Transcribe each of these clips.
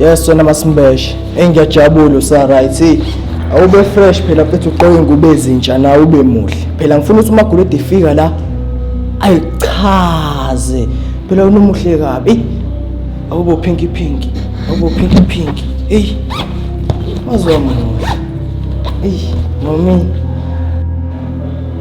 Yes wena masimbeshe engiyajabula usa right awube fresh phela futhi uqoke ingubo ezintsha nawe ube muhle phela ngifuna ukuthi uma gulede ifika la ayichaze phela unomuhle kabi awubo pinky pinky awubo pinky pinky ey wazwa mama ey mami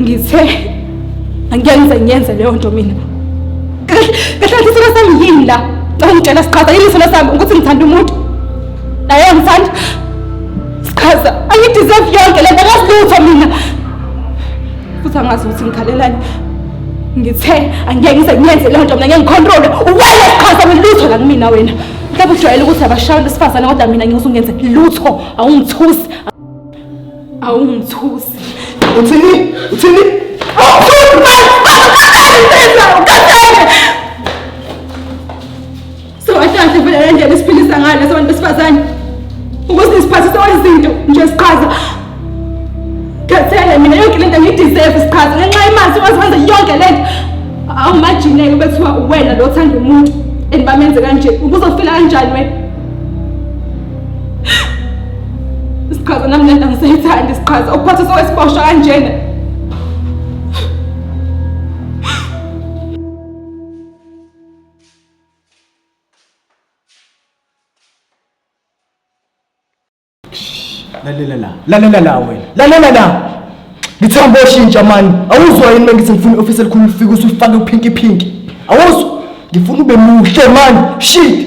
ngithe angiyenze ngiyenze leyo nto mina kahle isilo sami yini la ngangitshela siqhaza yini isilo sami ukuthi ngithanda umuntu naye ngithanda siqhaza angideserve yonke le nto akasilutho mina futhi angazi ukuthi ngikhalelani ngithe angeke ngize ngiyenze leyo nto mina ngeke ngikhontrole uwele siqhaza welutho la kumina wena mhlawumbe ujwayele ukuthi abashayela isifazane kodwa mina ngizungenze lutho awungithusi awungithusi uthini uthini sowatanhle vele le ndlela esiphilisa ngayo leso bantu besifazane ukuthi nisiphathise wezinto nje siqhaza khathele mina yonke le nto ngiyideserve siqhaza ngenxa yemali sikwazi wenza yonke le nto awumajineke bethiwa uwena lo othanda umuntu and bamenze kanje ubuzofila kanjani wena Isiqhaza nami lento angisayithandi isiqhaza ukuphatha sowesiboshwa kanjena. Lalela la. Lalela la wena. Lalela la. Ngithamba oshintsha mani. Awuzwa yini bengithi ngifuna i-office elikhulu lifike usufake uphinki phinki. Awuzwa? Ngifuna ube muhle mani. Shit.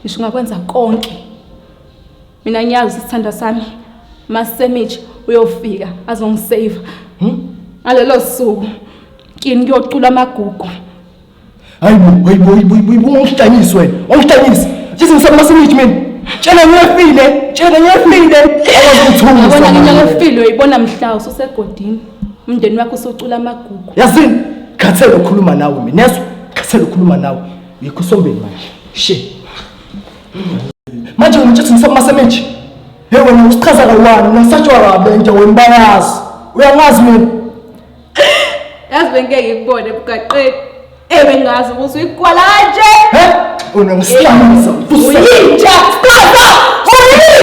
ngisho ungakwenza konke mina ngiyazi ukuthi sithandwa sami masemitshe uyofika azongisave hmm? ngalelo suku kini kuyocula amagugu hayibo hayibo hayibo ungihlanisi wena ungihlanisi sithi ngisaba masemitshe mina tshela ngiyafile tshela ngiyafile awazi ukuthunga yabona nginya ngiyafile uyibona mhla ususegodini umndeni wakho usocula amagugu yazini khathele ukhuluma nawe mina yezwa khathele ukhuluma nawe Ngikho usombeni manje. She. Manje umtshela ukuthi ngisoma semeji. Hey wena usichaza kawani unasatshwa kabe nje wena bayazi. Uyangazi mina. Yazi bengeke ngikubone ebugaqeni. Ebe ngazi ukuthi uyikwala kanje. He? Unomsilamuza. Uyinja. Stop! Uyinja.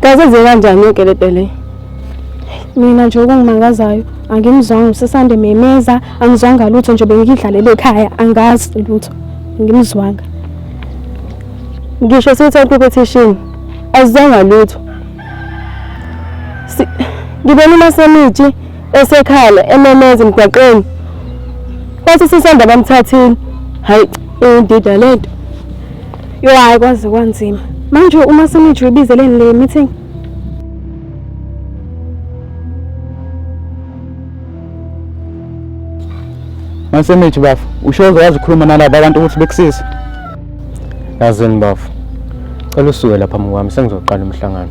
Kaze ze kanjani yokelepele? Mina nje okungimangazayo angimzwanga usesande memeza, angizwanga lutho nje bengidlalele ekhaya, angazi lutho. Ngimzwanga. Ngisho sithe competition azizwanga lutho. Ngibona uma semithi esekhala ememeza emgwaqeni kwathi sisanda bamthathile hayi indida lento yo hayi kwaze kwanzima manje uma senijo ibizeleni le meeting Masemithi bafo ushoze wazi ukhuluma nalabo abantu ukuthi bekusize yazini bafo cela usuke lapha mkwami sengizoqala umhlangano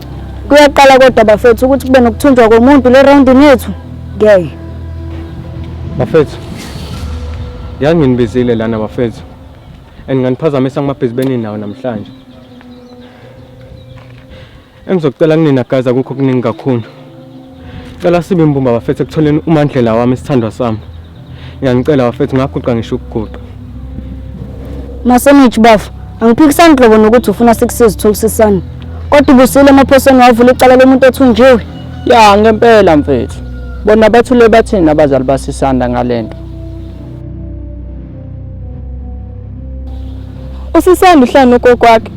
Kuyaqala kodwa bafethu ukuthi kube nokuthunjwa komuntu le round nethu. Ngeke. Bafethu. Yanginibizile lana bafethu. And nganiphazamisa kumabhizibeni nawo namhlanje. Engizocela kunina guys akukho kuningi kakhulu. Cela sibe mbumba bafethu ekutholeni umandlela wami isithandwa sami. Ngiyanicela bafethu ngaguqa ngisho ukuguqa. Masenich bafo, angiphikisani nhlobo nokuthi ufuna sikusize utholisisane. Kodwa ubusile emaphosweni wavula icala lomuntu othunjiwe. Ya ngempela mfethu. Bona bathule bathini abazali basisanda ngalento. Usisanda uhlanu ugogo wakhe.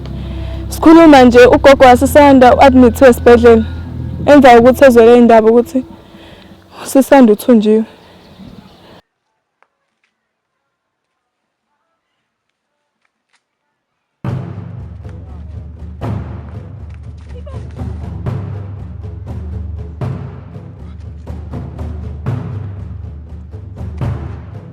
Sikhuluma nje ugogo wasisanda u-admithiwe esibhedlela. Emva kokuthi ezwele indaba ukuthi usisanda uthunjiwe.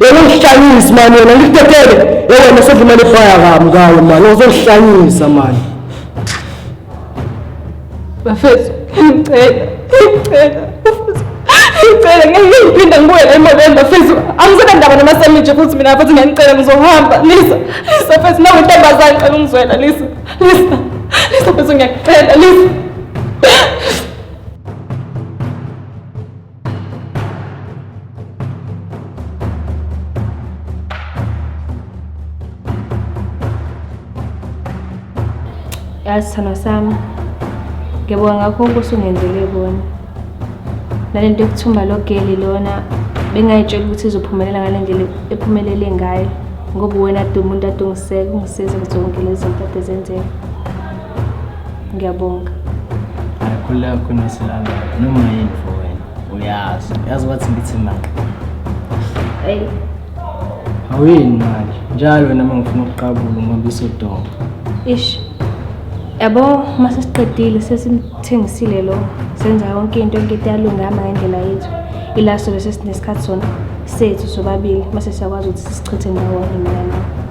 yena ungihlanyisa mani yena ngikutetele yewena sedlumele ifaya kami kayo mani uzongihlanyisa mani bafethu ngicela ngicela ngicela ngeke ngiphinde ngibuyele emobeni bafethu angisabe ndaba namasamije futhi mina futhi ngiyanicela ngizohamba lisa lisa fethu nawe ntombazane cela ungizwela lisa lisa lisa fethu ngiyakucela lisa yazi sithando sami ngiyabonga ngakho konke osungenzele kona nale nto yokuthumba lo geli lona bengayitshela ukuthi izophumelela ngale ndlela ephumelele ngayo ngoba uwena ade umuntu ade ungiseka ungisiza kuzo zonke lezi zinto ade zenzeka ngiyabonga ayakhululeka kuqinisa ilanga noma yini for wena uyazi uyazi wathi ngithi mani eyi awuyini manje njalo wena uma ngifuna ukuqabula ngoba isodonga ish yabo uma sesiqedile sesimthengisile lo senza yonke into enkete yalungama ngendlela yethu ila sobe sesinesikhathi sona sethu sobabili uma sesiyakwazi ukuthi sisichithe ndawonye mina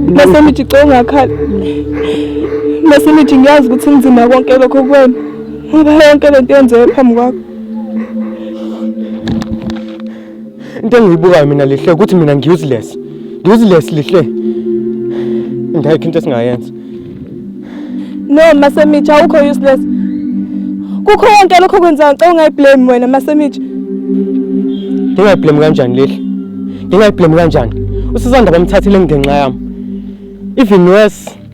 bese nithi cela ungakhala bese nithi ngiyazi ukuthi kunzima konke lokho kuwena ngoba yonke lento yenzeke phambi kwakho into engiyibukayo mina lihle ukuthi mina ngi-useless ngi-useless lihle ngayikho into esingayenza no masemitsha awukho useless kukho konke lokho kwenzayo ngicela ungayiblame wena masemitsha ndingayiblame kanjani lihle ndingayiblame kanjani usizanda bamthathile ngenxa yami even worse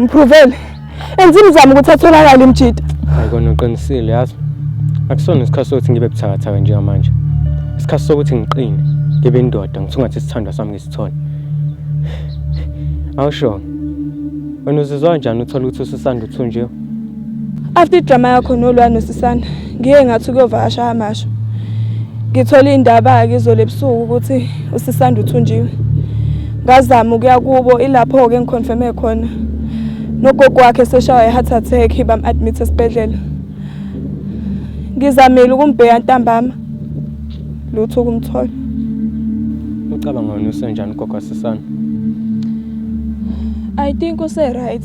Ngiprovele. Enza imizamo ukuthi atholakale imjita. Ayikona uqinisile yazi. Akusona isikhathi sokuthi ngibe buthakathaka njengamanje. Isikhathi sokuthi ngiqine, ngibe indoda, ngithungathe isithandwa sami ngisithole. Awusho. Wena uzizwa kanjani uthola ukuthi usisanda uthunjiwe? After idrama yakho nolwa nosisana ngiye ngathi ukuyovakasha amasho ngithole indaba-ke izolo ebusuku ukuthi usisanda uthunjiwe ngazama ukuya kubo ilapho-ke ngikhonfeme khona nogogo wakhe seshawa i-heart attack bam-admit esibhedlela ngizamile ukumbheya ntambama lutho ukumthola ucabanga wena usenjani ugogo wasisana i think use-right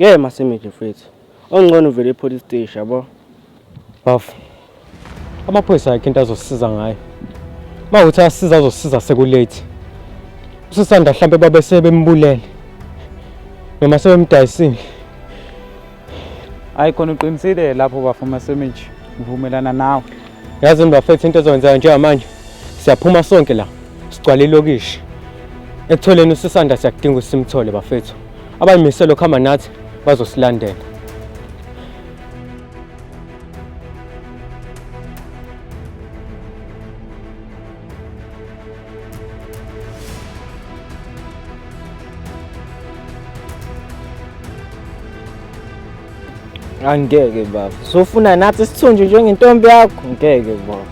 Ngeke masimidle mfethu. Ongcono uvele epolice station yabo. Bafo. Amaphoyisa akhe into azosiza ngayo. Uma ukuthi asiza azosiza sekulate. Usisanda mhlambe babe sebembulele. Noma sebemdayisile. hayi khona uqinisile lapho bafuma semage ngivumelana nawe yazi mbafethu into ezokwenzayo njengamanje siyaphuma sonke la sigcwale ilokishi ekutholeni usisanda siyakudinga usimthole bafethu abayimiselo khama nathi bazosilandela angeke baba sofuna nathi sithunjwe njengentombi yakho ngeke baba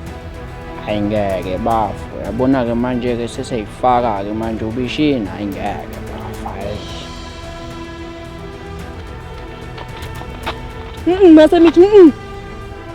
hayi ngeke bafo yabona-ke manje-ke seseyifaka-ke manje ubishini hayi ngeke bafo hayi mase mithi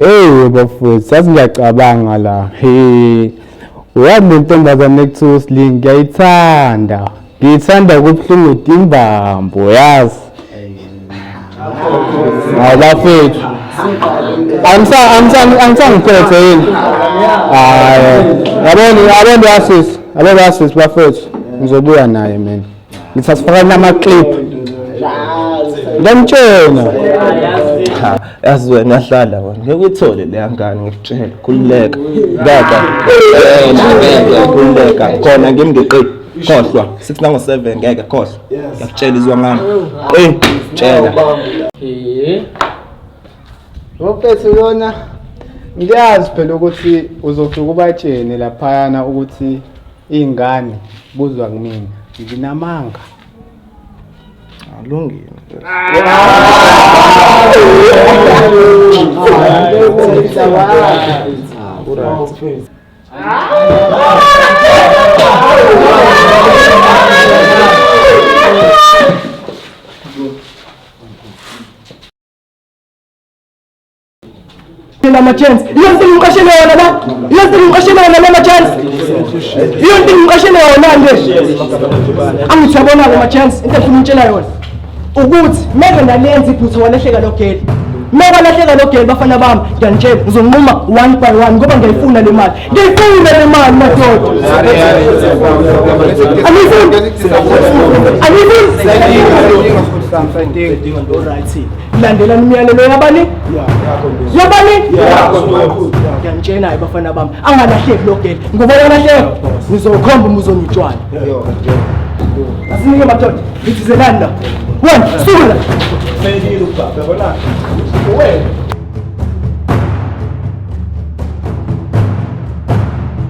Hey bafowethu sathi ngiyacabanga la. Hey. Uyazi le ntombazane ekuthiwa uSling ngiyayithanda. Ngiyithanda kubuhlungu timbambo yazi. Hayi bafowethu. Angisa angisa angisangiphethe yini? Hayi. Yabona yabona yasisi. Yabona yasisi bafowethu. Ngizobuya naye mina. ngithi asifakani amaclip ngamtshena yazi wena hlala wena ngeke uyithole leya ngane ngikutshela khululeka kaka khululeka khona ngimi ngiqini khohlwa sithi nango-seven ngeke khohlwa ngiyakutshela izwa ngami qini tshela Wophethe uyona ngiyazi phela ukuthi uzosuka ubatshene laphayana ukuthi Iy'ngane buzwa kumina nginamanga alungile lama chance iyo nto ngimqashele yona la iyo nto ngimqashele yona lama chance iyo nto ngimqashele yona nje angithi yabona lama chance into efuna umtshela yona ukuthi meke ndalenza iphutha walehleka lo gate meka lahleka lo gate bafana bami ngiyanitshela ngizonquma one by one ngoba ngiyayifuna le mali ngiyayifuna le mali madoda anifuni anifuni landelani umyalelo yabani yabani ngiyanitshena-ke bafana bami angalahleki lo gele ngoba yalahleka ngizokhomba umuzonitshwana asinike madoda ngithizelani la wena sula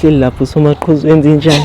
uhleli lapho usomaqhuzu wenza injani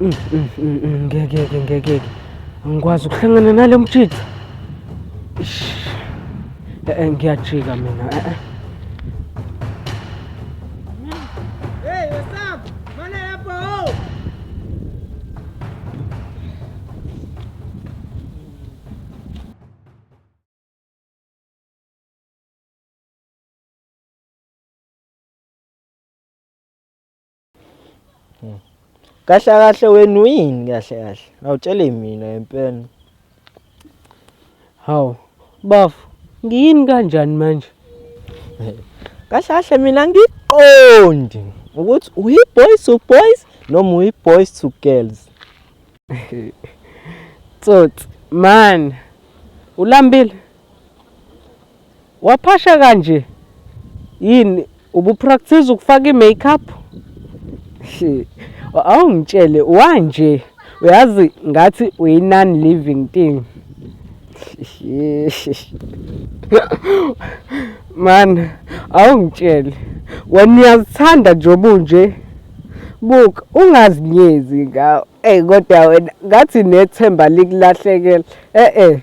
Mm, mm, mm, ngeke ke ngeke ke angikwazi ukuhlangana nalo mjitha eh, eh, ngiyajika mina eh, eh. Hmm. Kahle kahle wena uyini kahle kahle? Awutshele mina ngempela. Hawu, bafo, ngiyini kanjani manje? Kahle kahle mina ngiqondi ukuthi uyi-boys to boys noma uyi-boys to girls. Tsotsi, man, ulambile? Waphasha kanje yini ubupractice ukufaka i-makeup? Awungitshele wanje uyazi ngathi uyi-non living thing. Man awungitshele wena uyazithanda nje obunje buka ungazinyezi ngawo eyi kodwa wena ngathi nethemba likulahlekela e-e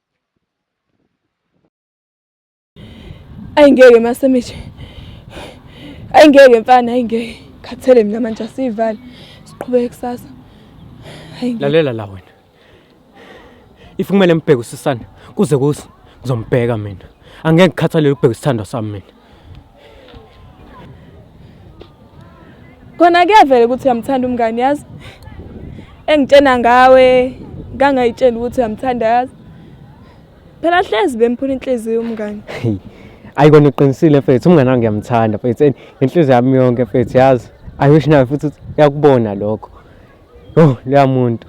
Ayi ngeke masemeje. Ayi ngeke mfana ayi ngeke. Khathele mina manje asivale. Siqhubeke kusasa. Ayi ngeke. Lalela la wena. If kumele ngibheke usisana kuze kusi ngizombheka mina. Angeke ngikhathalele ukubheka isithandwa sami mina. Kona kuyavela ukuthi uyamthanda umngani yazi. Engitshena ngawe kangayitshela ukuthi uyamthanda yazi. Phela hlezi bemphula inhliziyo umngani. Ayi kona uqinisile mfethu umngani wami ngiyamthanda mfethu and inhliziyo yami yonke mfethu yazi. I wish nawe futhi uyakubona lokho. Oh leya muntu.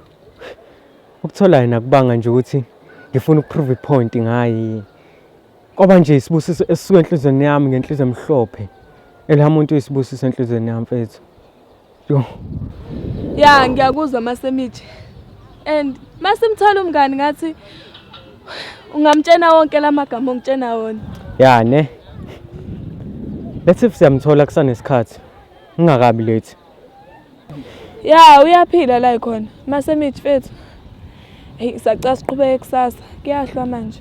Ukuthola yena kubanga nje ukuthi ngifuna ukuprove ipoint ngayi. Kwaba nje isibusiso esisuka enhlizweni yami ngenhliziyo emhlophe. Elhamuntu isibusiso enhlizweni yami mfethu. Yo. Ya ngiyakuzwa masemithi. And masimthola umngani ngathi ungamtshena wonke lamagama ongitshena wona. Ya ne. Let's if siyamthola kusanesikhathi. Ungakabi late. Ya uyaphila la ikhona. Masemithi mfethu. Hey sacela siqhubeke kusasa. Kuyahlwa manje.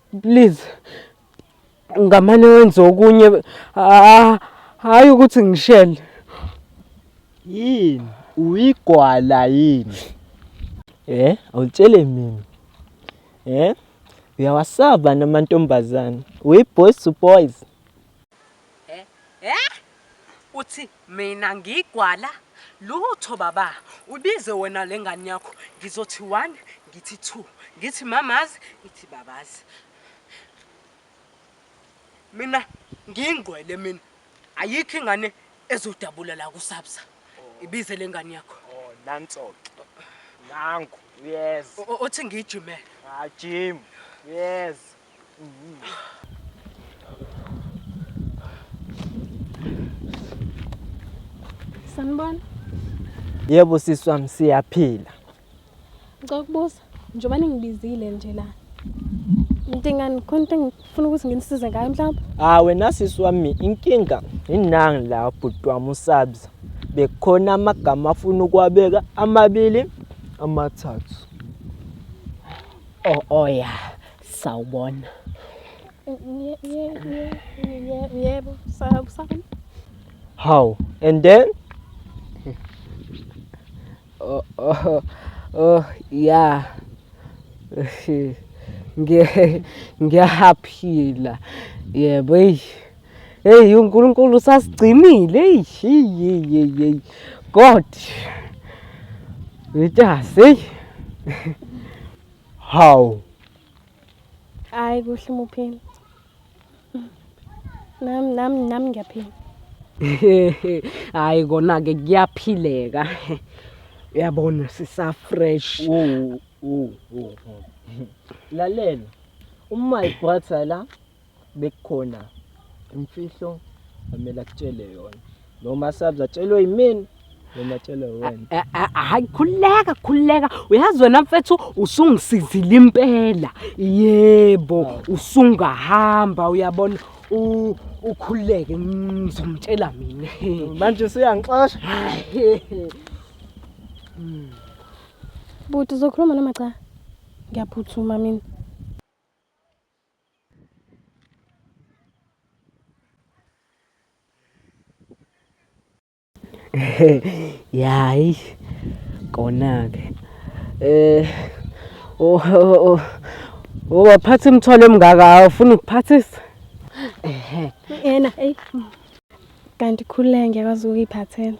Please ngamane wenze okunye hayi ukuthi ngishele. Yini? Uyigwala yini? Eh, awutshele mina. Eh? Uyawasaba namantombazana. Uyiboys to boys. Eh? Eh? Uthi mina ngigwala? Lutho baba, ubize wena lengane yakho. Ngizothi 1, ngithi 2, ngithi mamazi, ngithi babazi. Mina ngingqwele mina. Ayikho ingane ezodabula la kusabsa. Ibize lengane yakho. Oh, nanso ke. Nangu. Yes. Uthi ngijimele. Ah, gym. Yes. Sanibona. Yebo sisi wami siyaphila. Ngicela ukubuza njengoba ningibizile nje la. Ngidingani khona into engifuna ukuthi nginisize ngayo mhlawumbe? Ah wena sisi wami inkinga inangi la bhuti wami usabza. Bekhona amagama afuna ukuwabeka amabili amathathu. Oh oh yeah. sawubona yebo sawubona how and then oh oh oh yeah ngiyaphila yebo eyi eyi unkulunkulu usasigcinile eyi god wetase eyi Hawu. Hayi kuhle umuphila. Nam nam nam ngiyaphila. Hayi kona ke kuyaphileka. Uyabona sisa fresh. Wo wo wo. Lalela. Uma ibrother la bekukhona imfihlo amele akutshele yona noma sabza tshelwe yimini noma tshelwe wena eh, eh, eh, hayi khuleka khuleka uyazi wena mfethu usungisizile impela yebo usungahamba uyabona ukhuleke ngizomtshela mina manje usuyangixosha buti uzokhuluma noma cha ngiyaphuthuma mina Yayi kona-ke eh oh, oh, oh waphatha imithwalo emngaka awufuni ukuphathisa ehe yena hey kanti khululeke ngiyakwazi ukuyiphathela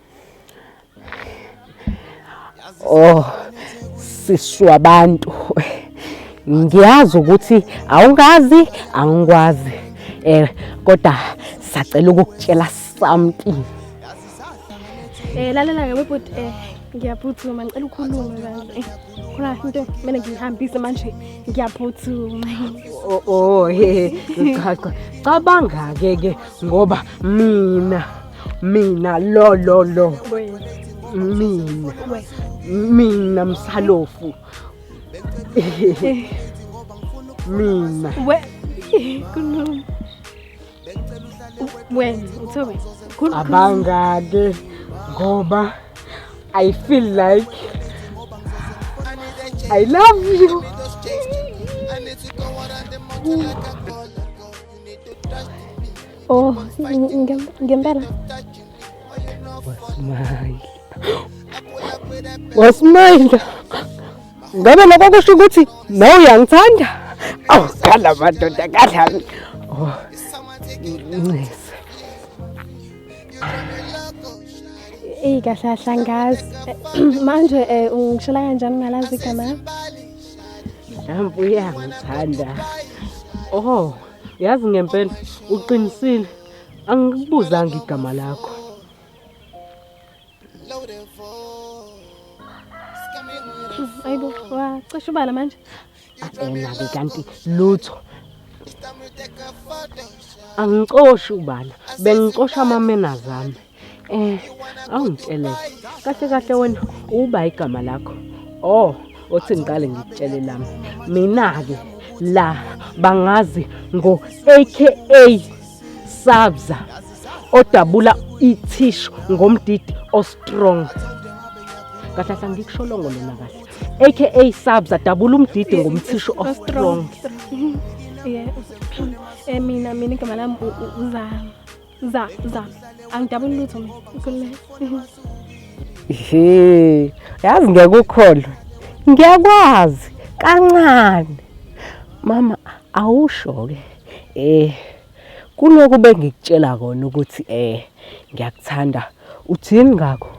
Oh sishu abantu ngiyazi ukuthi awungazi angikwazi eh kodwa sacela ukukutshela something eh lalela ke bhuti eh ngiyaphuthuma ngicela ukhulume bandle khona into kumele ngihambise manje ngiyaphuthuma oh oh he cha cha cabanga ke ke ngoba mina mina lo lo lo mina mina msalofu mina we kunoma wena uthobe abangake ngoba i feel like i love you Ooh. Oh, ngempela. Wasmile. Wasmile. Ngabe lokho kusho ukuthi nawe uyangithanda? Awu, khala madoda, khala. Oh. Ncese. Ey kahle hlangazi. Manje eh ungishela kanjani ngalazi igama? Mhlawumbe uyangithanda. Oh. Yazi ngempela uqinisile angikubuzanga igama lakho. Ayibo wacisha ubala manje. Ena-ke kanti lutho angicoshi ubala bengicosha amamenazami Eh, awungitshele kahle kahle wena uba igama lakho. Oh, othi ngiqale ngikutshele lami. Mina ke la bangazi ngo AKA Sabza odabula ithishu ngomdidi ostrong. Kahle kahle ngikusholongo lona kahle. AKA Sabza dabula umdidi ngomthishu ostrong. Yeah. Eh mina mina igama lami uzama. za za angidabuni lutho mina ukhulumela he yazi ngeke ukholwe ngiyakwazi kancane mama awusho-ke eh kuloku bengikutshela kona ukuthi eh ngiyakuthanda uthini ngakho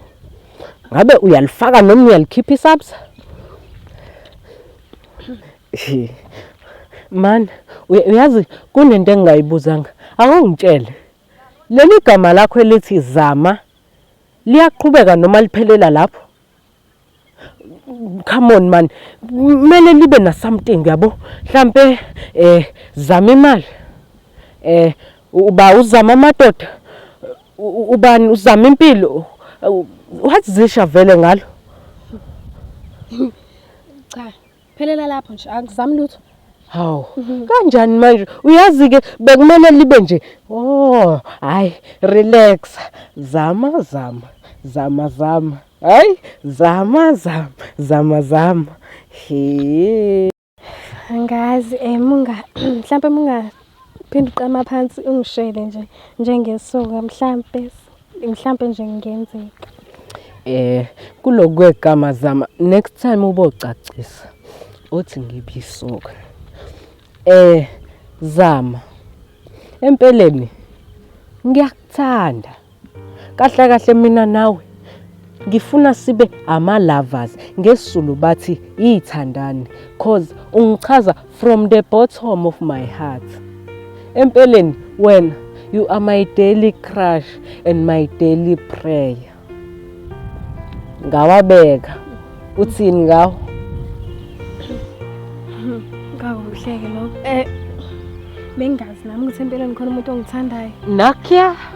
ngabe uyalifaka noma uyalikhipha isabsa Man, uyazi kunento engingayibuzanga. Awungitshele. Leli gama lakho elithi Zama liyaqhubeka noma liphelela lapho? Come on man. Kumele libe na something yabo. Mhlambe eh zama imali. Eh uba uzama amadoda. Ubani uzama impilo. What's zisha vele ngalo? Cha. Phelela lapho nje angizami lutho. Hawu mhm. kanjani manje uyazi ke bekumele libe nje oh hayi relax zama zama zama zama hayi zama zama zama zama he angazi eh munga mhlambe munga phinde uqama phansi ungishele nje njengesoka mhlambe mhlampe nje ngenzeka eh kulokwegama zama next time ubocacisa othi ngibisuka eh zama empeleni ngiyakuthanda kahle kahle mina nawe ngifuna sibe ama lovers ngesizulu bathi ithandani cause ungichaza from the bottom of my heart empeleni wena you are my daily crush and my daily prayer ngawabeka uthini ngawo kakuhleke lokho eh bengazi nami ukuthi empeleni khona umuntu ongithandayo nakya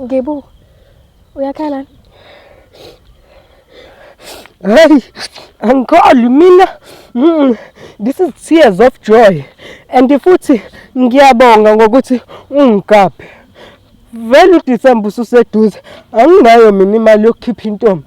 Ngibu. Uyakhala. Hey, angikholi mina. Mm, this is tears of joy. And futhi ngiyabonga ngokuthi ungigabhe. Vele uDecember ususeduze. Anginayo mina imali yokukhipha intombi.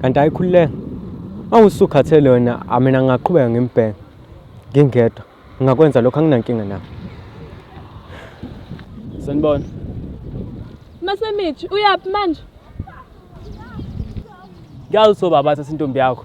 Kanti ayikhululeka. Uma usukhathele wena, amina ngingaqhubeka ngimbheke ngingedwa. Ngingakwenza lokho anginankinga nakho. Sanibona. Masemithi, uyaphi manje? Ngiyazi ukuthi obaba thatha intombi yakho.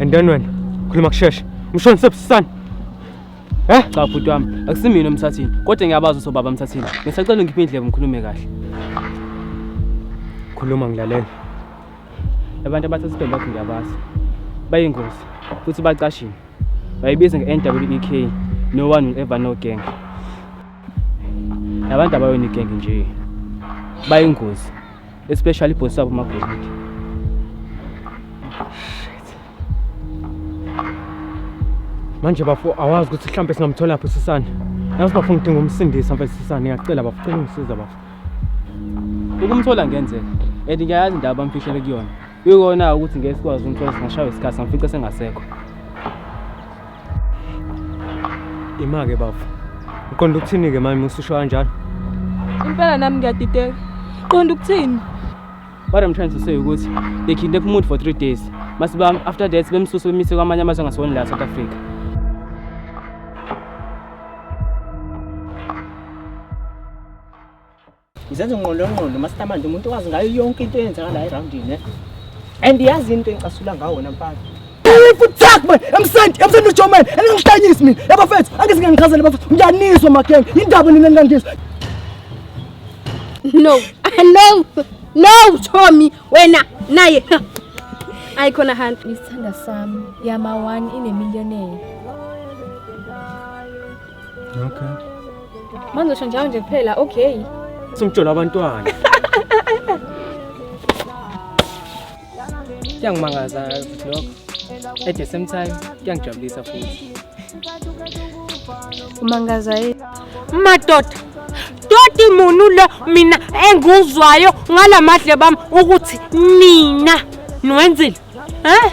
And then wena khuluma kusheshe. Umshoni sebusisana. Eh? Cha bhuti wami, akusimina umthathini. Kodwa ngiyabazi ukuthi ubaba mthathini. Ngisacela ungiphe indlebe ngikhulume kahle. Khuluma ngilalela. Abantu abathatha isibhembu bakho ngiyabazi. Bayingozi futhi bacashile. Bayibiza nge-NWEK no one will ever know gang. Labantu abayona igang nje. Bayingozi. especially ibhosi wabo magolide manje bafo awazi ukuthi mhlawumbe singamthola phi usisana yazi bafo ngidinga umsindisa mfethu usisana ngiyacela bafo cela ungisiza bafo ukumthola ngenzeka and ngiyayazi indaba amfihlele kuyona Kuyikona ukuthi ngeke sikwazi umthola singashaywa isikhathi samfica sengasekho. Imake bafo. Uqonda ukuthini ke manje ususho kanjalo? Impela nami ngiyadideka. Qonda ukuthini? What I'm trying to say ukuthi they kidnap umuntu for 3 days. Masiba after that bemsusa bemise kwamanye amazwe angasoni la South Africa. Ngizenza unqolonqolo master manje umuntu wazi ngayo yonke into eyenzeka la eroundini ne. And yazi into engicasula ngawo wena mfana. Futhak man, emsenti, emsenti uJoman, engingihlanyisi mina. Yabo fethu, angise ngiyangichazela bafethu. Ngiyaniswa mageng, indaba nina ningangizwa. No, no, no Tommy, wena naye. Ayi khona hand. Isithanda sami, yama one in a millionaire. Okay. Manje usho njalo nje kuphela okay. Simjola abantwana. Kuyangimangaza ukuthi lokho. At the same time kuyangijabulisa futhi. Umangaza yini? Madoda. Doti munu lo mina enguzwayo ngalamadle bami ukuthi nina niwenzile. Eh?